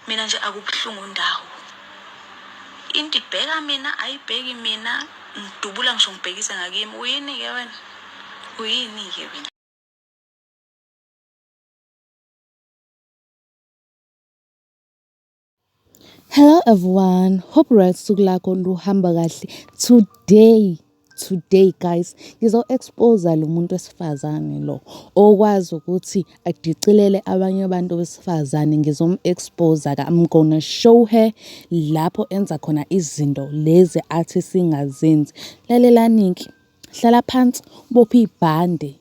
Mina nje akubuhlungu ndawo. Into ibheka mina ayibheki mina ngidubula ngisho ngibhekise ngakimi. Uyini ke wena? Uyini ke wena? Hello everyone, hope right suku lakho luhamba kahle today. today guys ngizo-exposa lo muntu wesifazane lo okwazi ukuthi adicilele abanye abantu besifazane ngizom-exposa I'm gonna show her lapho enza khona izinto lezi athi singazenzi lalelani-ke hlala phansi ubophe ibhande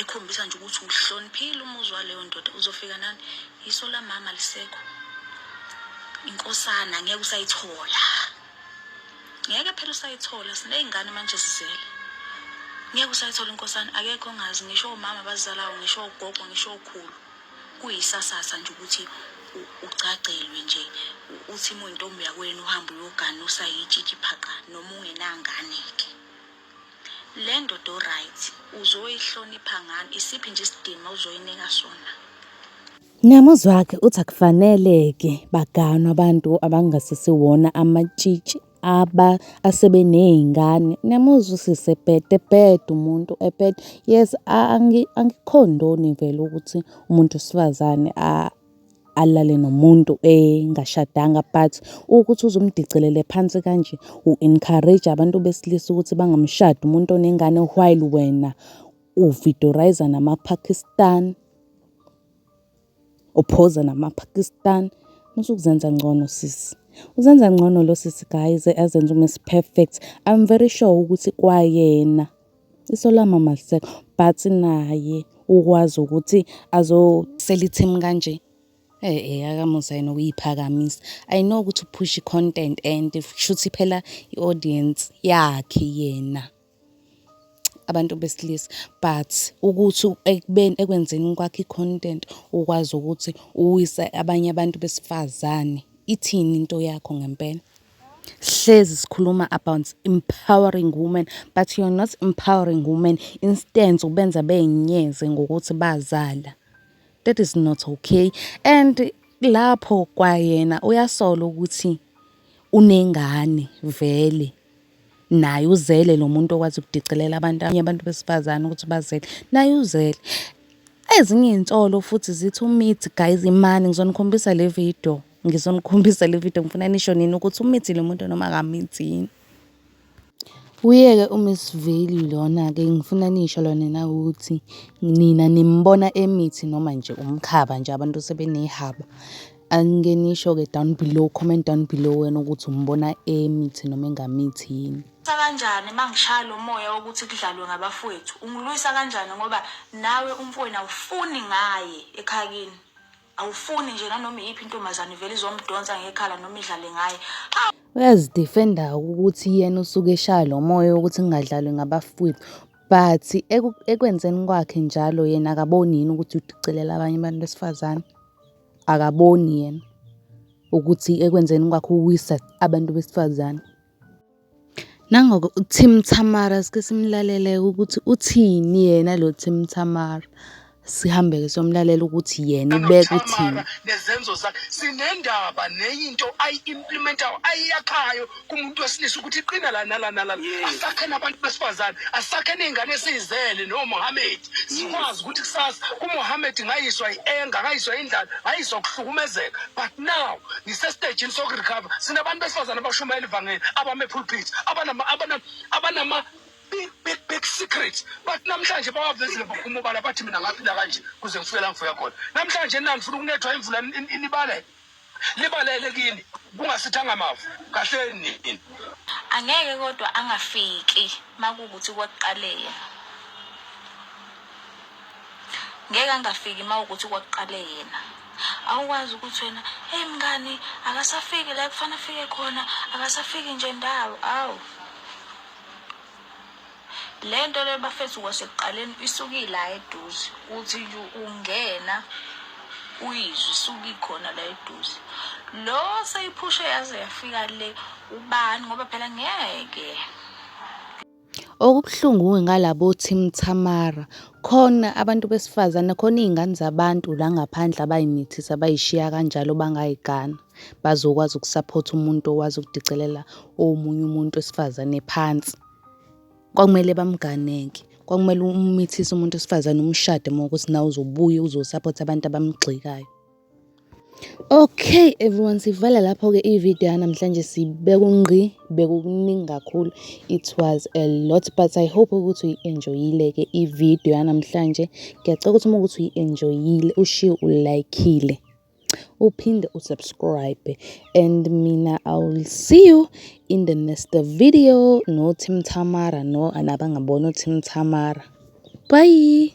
ekhombisa nje ukuthi uhloniphile umuzwa leyo ndoda uzofika nani yiso la mama lisekho inkosana ngeke usayithola ngeke phela usayithola siney'ngane manje sizele ngeke usayithola inkosana akekho ongazi ngisho omama abazalayo ngisho ogogo ngisho okhulu kuyisasasa nje ukuthi ugcagcelwe nje uthi uma uyintombi yakwenu uhambe uyogana usayitshitshi phaqa noma ungenangane-ke Lendoda o right uzoyihlonipha ngani isiphi nje isidima uzoyinika sona. Ngamuzwi wakhe uthi akufanele-ke baganwe abantu abangasisiwona amatshitshi aba asebeney'ngane. Niyamuzwa usisi ebheda, ebheda umuntu ebheda. Yes, angikhondoni vele ukuthi umuntu wesifazane . alale nomuntu engashadanga but ukuthi uzumdicelele phansi kanje u-encourage abantu besilisa ukuthi bangamshadi umuntu onengane while wena uvidoriza namaPakistan uphoza namaPakistan musukuzenza ngcono sisi uzenza ngcono lo sisi guys azenza uMiss Perfect I'm very sure ukuthi kwayena Isolama malisekho but naye ukwazi ukuthi azosela i-team kanje. Eyi eyi akamusa yena ukuyiphakamisa. I know ukuthi uphusha i-content and kushuthi phela i-audience yakhe yena abantu besilisa. But ukuthi ekubeni ekwenzeni kwakhe i-content ukwazi ukuthi uwise abanye abantu besifazane, ithini into yakho ngempela? hlezi sikhuluma about empowering women but you're not empowering women instead ubenza beyinyeze ngokuthi bazala that is not okay and lapho kwayena uyasola ukuthi unengane vele naye uzele lo muntu okwazi ukudicilela abantu abanye abantu besifazane ukuthi bazele naye uzele ezinye iy'nsolo futhi zithi umithi guys imani ngizonikhombisa le video Ngizonikhombisa le video ngifuna nisho nini ukuthi umithile umuntu noma akamithini. Uyeke uMiss Veli lona-ke ngifuna nisho lona na ukuthi nina nimbona emithi noma nje umkhaba nje abantu sebenehaba. Angike nisho-ke down below, comment down below wena ukuthi umbona emithi noma engamithi yini. Sa kanjani uma ngishaya lo moya wokuthi kudlalwe ngabafowethu? Ungilwisa kanjani ngoba nawe umfowenu awufuni ngaye ekhaya kini? Awufuni nje nanoma iyiphi intombazane ivele izomdonsa ngekhala noma idlale ngaye. Aw! Uyazidefenda ukuthi yena usuke eshaya lo moya wokuthi kungadlalwe ngabafowethu but ekwenzeni kwakhe njalo yena akaboni yini ukuthi udicilela abanye abantu besifazane? Akaboni yena ukuthi ekwenzeni kwakhe uwisa abantu besifazane? Nangoke uTim Thamara sike simlalele ukuthi uthini yena lo Tim Thamara. Sihambe-ke somlalela ukuthi yena ubeka uthini. Nezenzo zakhe sinendaba neyinto ayi-implementayo ayiyakhayo kumuntu wesilisa ukuthi iqina la nala nala. Asakhe nabantu besifazane, asakhe ney'ngane esiyizele noMohammed. sikwazi ukuthi kusasa umohammed ngayiswa i-enga ngayiswa indlala ngayiswa ukuhlukumezeka but now ngisesitejini sokurecover sinabantu besifazane abashumayela ivangeli abame-pulpit abanama-big big big secret but namhlanje bawavezile baphuma ubala bathi mina ngaphila kanje kuze ngifike la ngifika khona namhlanje nani funa ukunethwa imvula inibalele libalele kini kungasithanga mavu kahleni nini angeke kodwa angafiki makukuthi kwakuqaleye ngeke angafiki mawukuthi kwakuqale yena awukwazi ukuthi wena hey mngani akasafiki la kufanele afike khona akasafiki nje ndawo awu Lento le bafethu kwasekuqaleni isukila eduze uthi nje ungena uyizwe isuke ikhona la eduze lo seyiphushe yaze yafika le ubani ngoba phela ngeke Okubuhlungu-ke ngalabo Team Tamara, khona abantu besifazane, khona iy'ngane zabantu la ngaphandle abay'mithisa bay'shiya kanjalo bangay'gana. Bazokwazi ukusaphotha umuntu okwazi ukudicelela omunye umuntu wesifazane phansi. Kwakumele bamgane-ke, kwakumele umithise umuntu wesifazane umshade uma ukuthi nawe uzobuya uzosaphotha abantu abamgxekayo. Okay everyone sivala lapho-ke i-video yanamhlanje sibeka ungqi bekukuningi kakhulu it was a lot but i hope ukuthi uyi-enjoyile-ke i-video yanamhlanje ngiyacela ukuthi uma ukuthi uyi-enjoyile ushiye ulayikile. uphinde usubscribe and mina i will see you in the next video no Tim Tamara no anabangabona uTim Tamara bye